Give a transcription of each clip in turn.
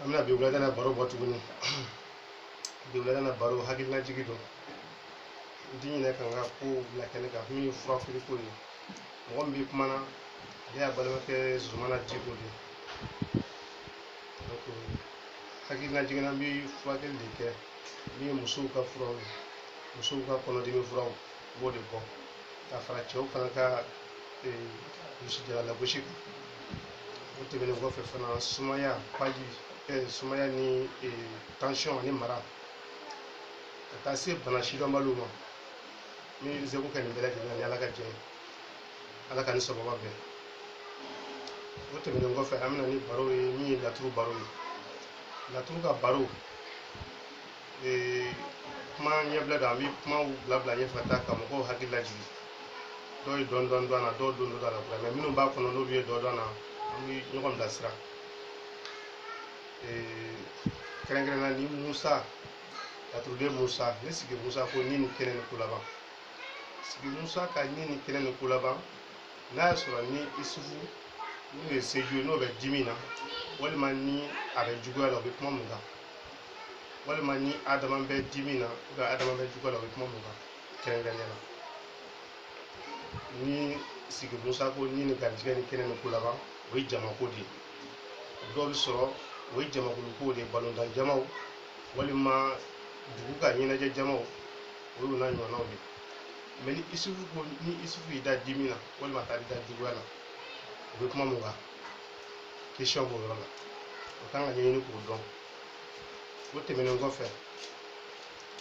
an bɛna bi wulada na baro bɔ tuguni bi wulada na baro hakilinajigi don n ti ɲinɛ ka n ka kow bila kɛnɛ kan min ye furafeere ko ye mɔgɔ min bɛ kuma na ale y'aw balimakɛ zumana diko de ye donc hakilinajigin na n bɛ furakɛli de kɛ min ye musow ka furaw ye musow ka kɔnɔdimi furaw u b'o de bɔ ka fara cɛw fana ka kulusijala lagosi kan o tɛmɛnen kɔfɛ fana sumaya paji sumaya ni tansiyɔn ani mara ka taa se bana sidɔnbaliw ma min bɛ seko kɛ nin bɛɛ lajɛlen na ni ala ka jɛn ye ala k'an ni sababa bɛn o tɛmɛnen kɔfɛ an bɛ na ni baro ye min ye laturu baro ye laturu ka baro kuma ɲɛbila don an bɛ kumaw bila bila ɲɛfɛ ka taa ka mɔgɔw hakili lajigin dɔw ye dɔɔni dɔɔni dɔn a la dɔw don don a la kura mais minnu b'a kɔnɔ n'olu ye dɔ dɔn a la an bɛ ɲɔgɔn bilasira kɛrɛnkɛrɛnnenya ni musa laturuden musa ni sigi musa ko ni ni kɛnɛ ni kolaban sigi musa ka ni ni kɛnɛ ni kolaban n'a y'a sɔrɔ ni isufu n'o ye seju ye n'o bɛ dimi na walima ni a bɛ juguya la o bɛ kuma mun kan walima ni adama bɛ dimi na ou bien adama bɛ juguya la o bɛ kuma mun kan kɛrɛnkɛrɛnnenya la ni sigi musa ko ni ni garijɛgɛ ni kɛnɛ ni kolaban o ye jamako de ye dɔw bɛ sɔrɔ o ye jamakulu kow de ye balontan jamaw walima dugu ka ɲɛnajɛ jamaw o y'o n'a ɲɔgɔnnaw de ye mais ni isufu ko ni isufu y'i da dimi na walima a taara i da juguya la o bɛ kuma mun kan question b'o yɔrɔ la o kan ka ɲɛɲini k'o dɔn o tɛmɛnen kɔfɛ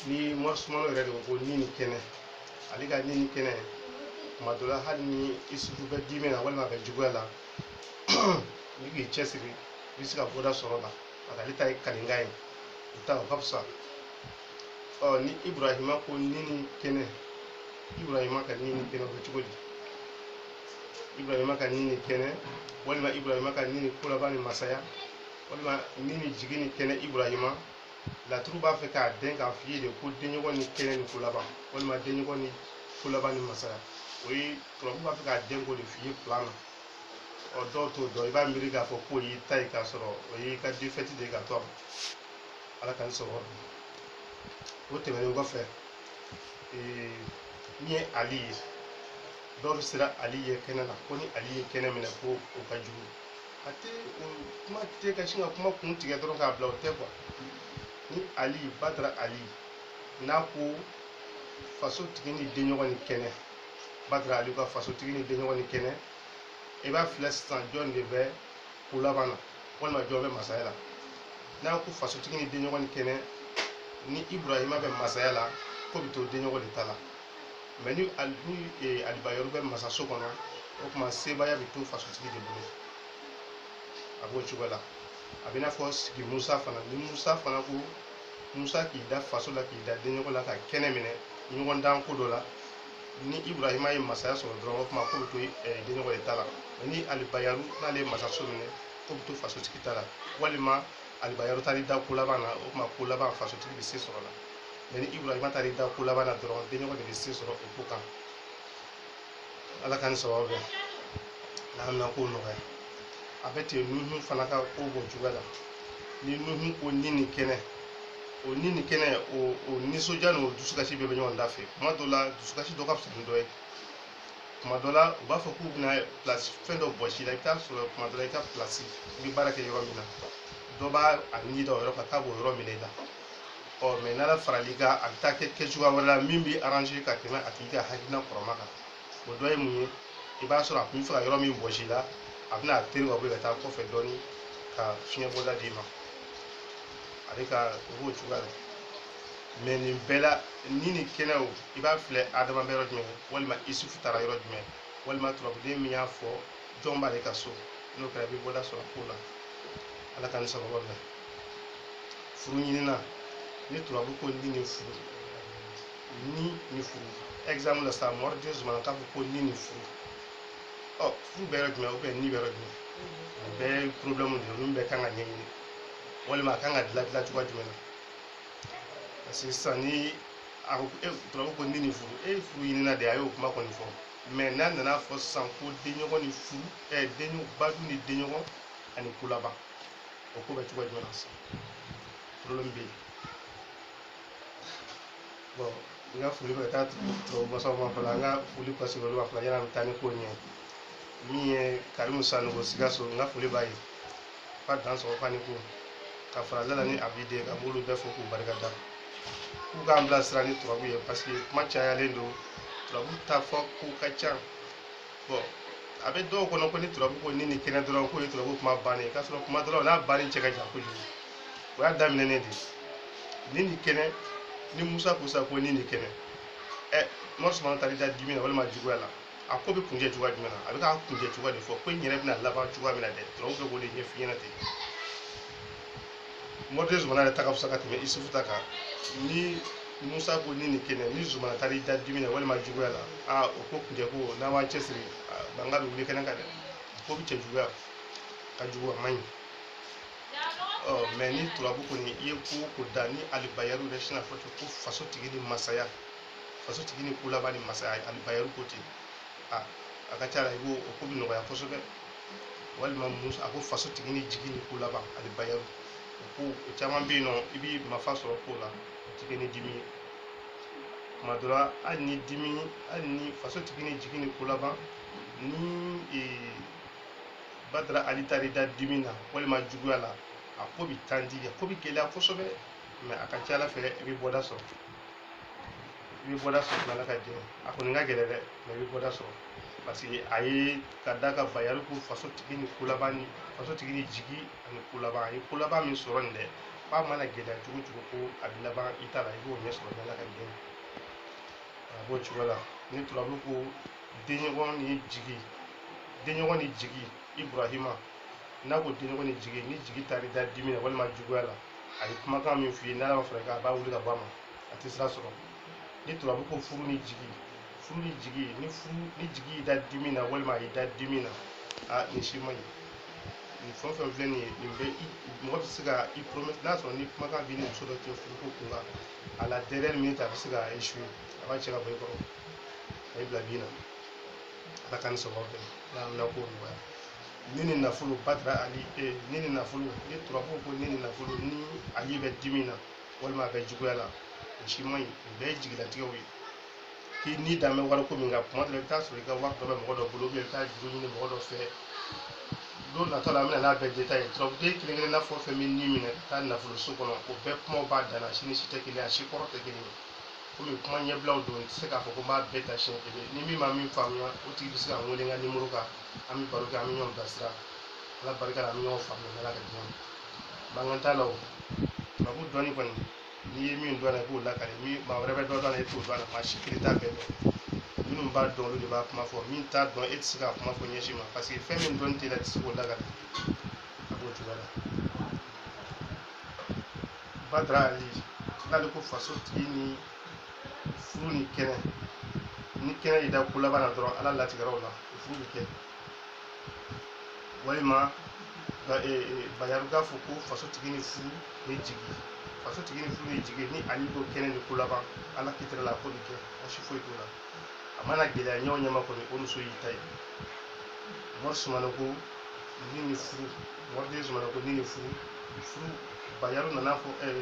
ni mɔrisumano yɛrɛ de ko ni ni kɛnɛ ale ka ni ni kɛnɛ tuma dɔ la hali ni isufu bɛ dimi na walima a bɛ juguya la n'i k'i cɛsiri i bɛ se ka bɔda sɔrɔ o la parce que ale ta ye kalikan ye o ta o ka fisa ɔ ni iburahima ko ni ni kɛnɛ iburahima ka ni ni kɛnɛ o bɛ cogo di ibrahima ka ni ni kɛnɛ walima ibrahima ka ni ni kolaban ni masaya walima ni ni jigi ni kɛnɛ ibrahima laturu b'a fɛ k'a dɛn k'a f'i ye de ko denɲɔgɔn ni kɛnɛ ni kolaban walima denɲɔgɔn ni kolaban ni masaya o ye turabu b'a fɛ k'a dɛn k'o de f'i ye plan na ɔ dɔw t'o dɔn i b'a miiri k'a fɔ k'o y'i ta ye k'a sɔrɔ o y'i ka défaite de ye ka to a ma ala ka n sɔrɔ o tɛmɛnen kɔfɛ ee, min ye ali ye dɔw bɛ siran ali ye kɛnɛ la ko ni ali ye kɛnɛ minɛ ko o ka jugu a tɛ o kuma tɛ ka sin ka kuma kun tigɛ dɔrɔn k'a bila o tɛ kuwa ni ali badara ali n'a ko fasotigi ni denɲɔgɔn ni kɛnɛ badara ali ka fasotigi ni denɲɔgɔn ni kɛnɛ i b'a filɛ sisan jɔn de bɛ ko laban na walima jɔn bɛ masaya la n'a ko fasotigi ni denɲɔgɔn ni kɛnɛ ni iburahima bɛ masaya la ko bɛ to denɲɔgɔn de ta la mɛ ni alibayaru bɛ masaso kɔnɔ o tuma sebaaya bɛ to fasotigi de bolo a b'o cogo la a bɛ i n'a fɔ sigi musa fana ni musa fana ko musa k'i da faso la k'i da denɲɔgɔn la ka kɛnɛ minɛ ɲɔgɔndan ko dɔ la ni ibrahima ye masaya sɔrɔ dɔrɔn o tuma ko bɛ to denɲɔgɔn de ta la ni alibayaru n'ale ye masaso minɛ ko bɛ to fasotigi ta la walima alibayaru taara i da ko laban na o tuma ko laban fasotigi bɛ se sɔrɔ la mɛ ni ibrahima taara i da ko laban na dɔrɔn denɲɔgɔn de bɛ se sɔrɔ o ko kan ala k'an ni sababu bɛn n'an na ko nɔgɔya a bɛ ten nuhu fana ka ko b'o cogoya la ni nuhu ko ni ni kɛnɛ o ni ni kɛnɛ o o nisɔndiya ni o dusukasi bɛɛ bɛ ɲɔgɔn dafɛ tuma dɔ la dusukasi dɔ ka fisa ni dɔ ye tuma dɔ la u b'a fɔ k'u bɛna pilasi fɛn dɔ bɔsi i la i bɛ taa sɔrɔ tuma dɔ la i ka pilasi i bɛ baara kɛ yɔrɔ min na dɔ b'a a ni da o yɔrɔ kan k'a b'o yɔrɔ minɛ i la ɔ mɛ n'ala faral'i kan a bɛ taa kɛ kɛcogoya wɛrɛ la min b'i aranze ka tɛmɛ a tigi ka hakilina kɔrɔma kan o dɔ ye mun ye i b'a sɔrɔ a tun bɛ fɛ ka yɔrɔ min bɔsi i la a bɛna a tɛri ka bɔ yen ka taa kɔfɛ dɔɔni ka fiɲɛ bɔda d'i ma ale ka ko b'o cogoya la mɛ nin bɛɛ la ni ni kɛnɛ o i b'a filɛ adama bɛ yɔrɔ jumɛn walima isufu taara yɔrɔ jumɛn walima turabuden min y'a fɔ jɔn b'ale ka so n'o kɛra i bɛ bɔda sɔrɔ ko la ala k'an ni sababu bɛn furu ɲinina ni turabu ko ni ni furu ni ni furu exemple la ça veut dire zumana k'a fɔ ko ni ni furu ɔ furu bɛ yɔrɔ jumɛn ou bien ni bɛ yɔrɔ jumɛn nin bɛɛ ye problème de ye min bɛɛ kan ka ɲɛɲini walima a kan ka dilan dilan cogoya jumɛn na parce que sisan ni a ko e turabu ko ni ni furu e ye furu ɲinina de a y'o kuma kɔni fɔ mɛ n'a nana fɔ sisan ko denɲɔgɔn ni furu ɛ denɲɔgɔn badu ni denɲɔgɔn ani ko laban o ko bɛ cogo jumɛn na sisan problème bɛ yen bon n ka foli bɛ ka taa turabu masaw ma fɔlɔ an ka foli pase olu ma fɔlɔ yanni an bɛ taa ni ko ɲɛ min ye karimu sanogo sikaso n ka foli b'a ye fa dansɔgɔ fa ni ko ka fara lala ni abide kan n b'olu bɛɛ fo k'u barika da k'u k'an bilasira ni turabu ye parce que kuma cayalen don turabu ta fɔko ka ca bɔn a bɛ dɔw kɔnɔ ko ni turabu ko ni ni kɛnɛ dɔrɔn k'o ye turabu kuma bannen k'a sɔrɔ kuma dɔrɔn n'a banni cɛ ka jan kojugu o y'a daminɛnen de ni ni kɛnɛ ni musa ko sa ko ni ni kɛnɛ ɛ mɔri sumana taara i da dimi na walima juguya la a ko bɛ kuncɛ cogoya jumɛn na a bɛ k'a kuncɛ cogoya de fɔ ko in yɛrɛ bɛna laban cogoya min na dɛ turabu bɛ k'o de ɲɛf'i ɲɛna ten mɔriden zumana yɛrɛ ta ka fisa ka tɛmɛ isufu ta kan ni musa ko ni ni kɛnɛ ni zumana taara i da dimi na walima juguya la a o ko kuncɛ ko n'an m'an cɛsiri mankan bɛ wuli kɛnɛ kan dɛ ko bɛ cɛjuguya ka jugu a man ɲi ɔ mɛ ni turabu kɔni i ye ko o ko da ni alibayaru yɛrɛ sinn'a fɔ ko faso tigi ni masaya faso tigi ni ko laban ni masaya alibayaru ko ten a a ka ca la i b'o o ko bɛ nɔgɔya kosɛbɛ walima musa ko faso tigi ni jigi ni ko laban alibayaru ko o caman bɛ yen nɔ i bɛ nafa sɔrɔ ko la o tɛ kɛ ni dimi ye tuma dɔ la hali ni dimi hali ni faso tigi ni jigi ni ko laban ni ee, badara ali taar'i da dimi na walima juguya la a ko bɛ tandi a ko bɛ gɛlɛya kosɛbɛ mɛ a ka ca ala fɛ i bɛ bɔda sɔrɔ i bɛ bɔda sɔrɔ n'ala ka jɛ a kɔni ka gɛlɛn dɛ mɛ i bɛ bɔda sɔrɔ parce que a ye ka da ka bayaru ko faso tigi ni ko laban ni faso tigi ni jigi ani ko laban a ye ko laban min sɔrɔ nin dɛ k'a mana gɛlɛya cogo cogo ko a bɛ laban i ta la i b'o ɲɛ sɔrɔ n'ala ka jɛ a b'o cogo la ni turabu ko denɲɔgɔn ni jigi denɲɔgɔn ni jigi iburahima n'a ko denɲɔgɔn ni jigi ni jigi taar'i da dimi na walima juguya la a ye kumakan min f'i ye n'ala ma far'i kan a b'a wuli ka bɔ a ma a tɛ sira sɔrɔ ni turabu ko furu ni jigi furu ni jigi ni furu ni jigi y'i da dimi na walima a y'i da dimi na a nin si man ɲi nin fɛn o fɛn filɛ nin ye nin bɛ i mɔgɔ bɛ se ka i promet n'a sɔrɔ ni kumakan b'i ni muso dɔ cɛ furu ko kun kan a la dernière minute a bɛ se ka échouer a b'a cɛ ka bɔ i kɔrɔ a y'i bila bin na ala k'an ni sababu bɛn ala k'an na ko nɔgɔya ni ni nafolo badara ali e ni ni nafolo ni turabu ko ni ni nafolo ni ali bɛ dimi na walima a bɛ juguya la o si man ɲi o bɛɛ ye jigilatigɛw ye k'i ni dan bɛ wariko min kan kuma dɔ la i bɛ taa sɔrɔ i ka wari dɔ bɛ mɔgɔ dɔ bolo i bɛ taa juru ɲini mɔgɔ dɔ fɛ don nata la an bɛna n'a bɛɛ détail ye turabuden kelen kelenna fɛn o fɛn bɛ ni minɛ ka taa nafoloso kɔnɔ o bɛɛ kumaw b'a dan na si ni si tɛ kelen ye a si kɔrɔ tɛ kelen ye komi kuma ɲɛbilaw don i tɛ se k'a fɔ ko n b'a bɛɛ ta siɲɛ kelen ni min ma min faamuya o tigi bɛ se ka n wele n ka nimoro kan an bɛ baro kɛ an bɛ ɲɔgɔn bilasira ala barika la an bɛ ɲɔgɔn faamuya n'ala ka diɲɛ mankan t'a la o turabu dɔnni kɔni n'i ye min dɔn a la i b'o lakari mɛ maa wɛrɛ bɛ dɔ dɔn a la e t'o dɔn a la maa si kelen t'a bɛɛ dɔn minnu b'a dɔn olu de b'a kuma fɔ min t'a dɔn e tɛ se k'a kuma fɔ ɲɛ si ma parce que fɛn min dɔnni t'i la i tɛ se k'o lakari a b'o cogoya la badara ali n'ale ko faso tigi ni furu ni kɛnɛ ni kɛnɛ y'i da ko laban na dɔrɔn ala latigɛra o la o furu bɛ kɛ walima ka e, e, bayaru k'a fɔ ko faso tigi ni furu ni jigi faso tigi ni furu ni jigi ni ali ko kɛnɛ ni ko laban ala kitira la ko bɛ kɛ baasi foyi t'o la a mana gɛlɛya ɲa o ɲa ma kɔni o muso y'i ta ye mɔri sumana ko ni ni furu mɔri den sumana ko ni ni furu furu bayaru nana fɔ ɛɛ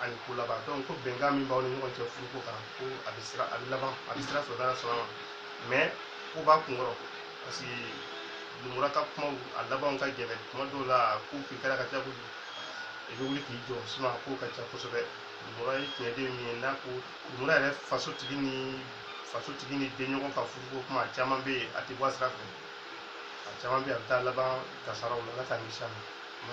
ani ko laban donc ko bɛnkan min b'aw ni ɲɔgɔn cɛ furuko kan ko a bɛ sira a bɛ laban a bɛ sira sɔrɔ n'ala sɔnna ma mais ko b'a kun kɔrɔ parce que lumura ka kumaw a labanw ka gɛlɛn tuma dɔw la ko k'i kɛra ka ca kojugu i bɛ wuli k'i jɔ sinon a ko ka ca kosɛbɛ lumura ye tiɲɛden min ye n'a ko lumura yɛrɛ faso tigi ni faso tigi ni denɲɔgɔn ka furuko kuma caman bɛ yen a tɛ bɔ a sira fɛ a caman bɛ yen a bɛ taa laban kasaraw la ala k'an kisi a ma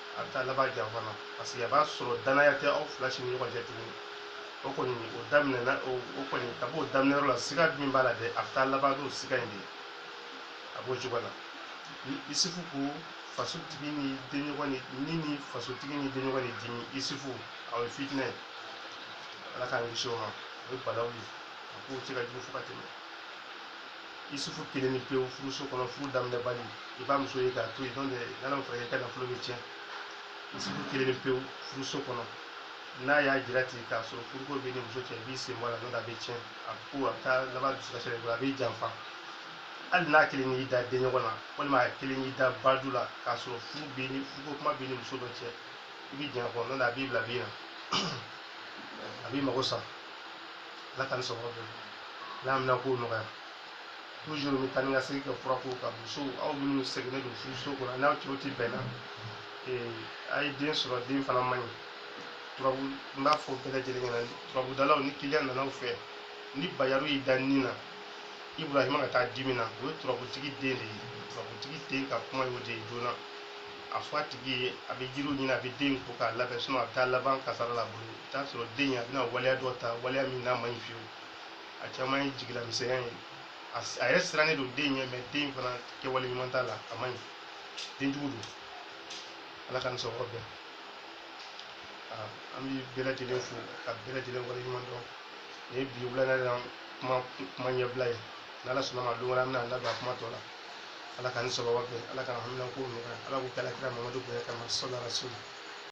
a bɛ taa laban janfa na parce que a b'a sɔrɔ danaya tɛ aw fila si ni ɲɔgɔn cɛ tuguni o kɔni o daminɛna o o kɔni a b'o daminɛ yɔrɔ la siga min b'a la dɛ a bɛ taa laban n'o siga in de ye a b'o cogo la ni isufu ko fasotigi ni denɲɔgɔn ni ni ni fasotigi ni denɲɔgɔn ni dimi isufu a ye fitinɛ ye ala k'an kisi o ma o ye balawu ye a ko cɛ ka jugu fo ka tɛmɛ isufu kelen ni pewu furuso kɔnɔ furu daminɛbali i b'a muso ye k'a to yen n'o tɛ n'ala ma fara a kan i ka nafolo bɛ tiɲɛ isufu kelen ni pewu furuso kɔnɔ n'a y'a jira ten k'a sɔrɔ furuko b'i ni muso cɛ i b'i sen bɔ a la n'o tɛ a bɛ tiɲɛ a ko a bɛ taa laban dusukasi de bolo a b'i janfa hali n'a kelen y'i da denɲɔgɔn na walima a kelen y'i da badu la k'a sɔrɔ furu b'i ni furuko kuma b'i ni muso dɔ cɛ i b'i janya kɔnɔ n'o tɛ a b'i bila bin na a b'i mago sa ala ka n sɔngɔ bɛɛ bɔ ka haminanko nɔgɔya toujours n bɛ taa ni ka segin kɛ fura ko kan musow aw minnu sɛgɛnnen don furuso kɔnɔ n'aw cɛw tɛ bɛn na a ye den sɔrɔ den fana man ɲi turabu n b'a fɔ bɛɛ lajɛlen ɲɛna turabudalaw ni kiliyan nana aw fɛ ni bayaru y'i da ni na ibrahima ka taa dimi na o ye turabutigi den de ye turabutigi den ka kuma y'o de ye joona a fɔ a tigi ye a bɛ jiriw ɲini a bɛ den ko k'a labɛn a bɛ taa laban kasara la bolo i t'a sɔrɔ den in a bɛna waleya dɔ ta waleya min n'a man ɲi fiyewu a caman ye jigilamisɛnya ye a s- a yɛrɛ sirannen don den ɲɛ mais den fana kɛwale ɲuman t'a la a man ɲi den jugu don ala ka nisɔnkɔrɔ bɛn Aa, an bɛ bɛɛ lajɛlen fo ka bɛɛ lajɛlen waleɲumandɔn nin ye bi wulada la kuma kuma ɲɛbila ye n'ala sɔnna ma don wɛrɛ an bɛna an da don a kuma tɔ la ala ka nisɔnkɔrɔ bɛn ala ka haminanko nɔgɔya ala k'o kɛ alakira mamadu bonya kama sɔlɔ rasul